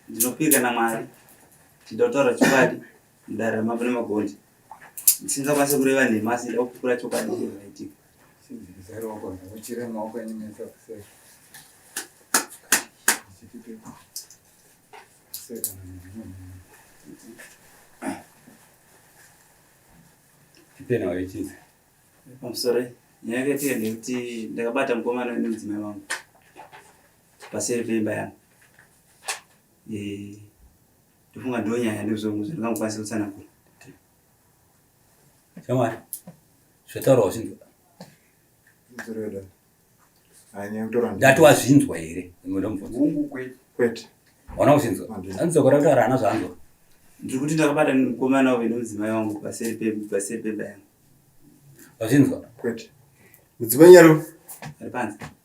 ndinopika namwari ndotaura chokwadi mudare mavo nemagondi ndisingakwanise kureva nhema asi ndakupikura chokwadi chezvinaitika tipena waichizi pamusoro nyaya yakatika ndekuti ndakabata mukomana nemudzimai wangu paseri peimba yangu ndofunga ndonyaya ndozonguza ndingangokwanisa kutsanangura shamwari zvataurawo zvinzwa ndati wazvinzwa here ndomubvunza ona kuzvinzwa anzokora kutaura ana zvanzwa ndiri kuti ndakabata mukomana uve nemudzimai wangu paseri pemba yangu wazvinzwa mudzimai nyaro ari panze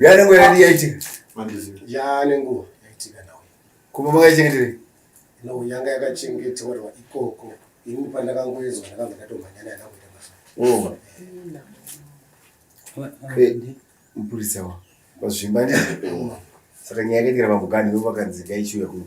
yanenguva yadi yaitika yanenguva yaitika nawe kumba makaichengeterei no yanga yakachengeterwa ikoko ini pandakangoezwa ndakabva ndatomhanyana yakakuita masa mupurisa wa vazvimba ndi saka nyaya yakaitira mabhukani vo vakanzi ngaichiuya kuno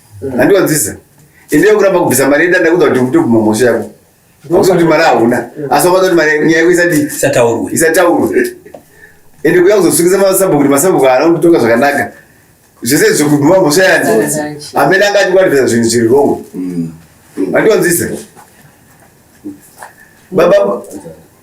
handiwanzise ende yokuramba kubvisa mari yenda ndakuda kuti kutoguma mhosva yako akuti kuti mari hauna asi wakada kuti mari nyaya yako isati isataurwe isataurwe ende kuya kuzosungisa masabhuku kuti masabhuku haana kutonga zvakanaka zvese zvokuguma mhosva yani amene anga atikwatibvisa zvinhu zviri rongo handiwanzise baba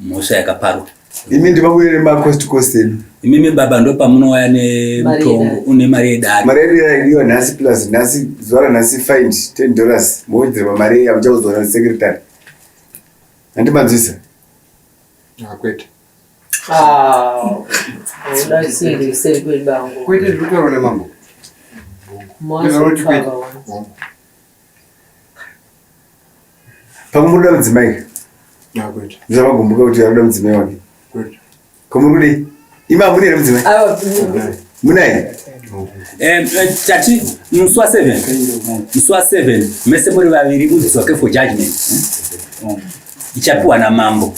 mhosva yakaparwa imi ndivabude nemacost cost enu imimi baba ndo pamunouya nemutongo une mari yedare mari yedu yaidiwa nhasi plus nhasi zuva ranhasi find ten dollars mowedzerwa mari iya muchauzoona secretary handimanzwisa akwete kwete zvitaura nemambo Pamwe muri kuda mudzimai ka? Ah, kwete. Ndizamagumbuka kuti ari kuda mudzimai wake. Kwete. Ko muri kudei? Imi hamuna here mudzimai? Munaye? Eh, eh, tati musi wa 7 musi wa 7 mese muri vaviri mudziso wake for judgment Mm. ichapiwa namambo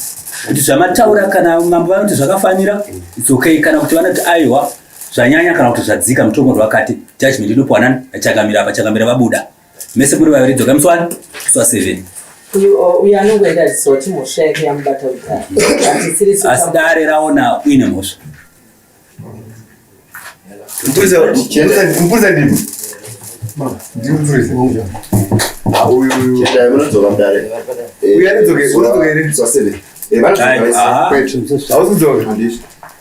kuti zvamataura kana mambo vanoti zvakafanira it's okay kana kuti vanoti aiwa zvanyanya kana kuti zvadzika mutongo ndowakati judgment inopiwa nani achangamira apa changamira vabuda mese muri vaviri dzoka musi wani musi wa seven uyo anongoenda zisoti mhosva yake yamubata kudhara asi dare raona uine mhosva mupurisa ndimi ndimupurisa uyo anodzoka here zva seven hauzodzoka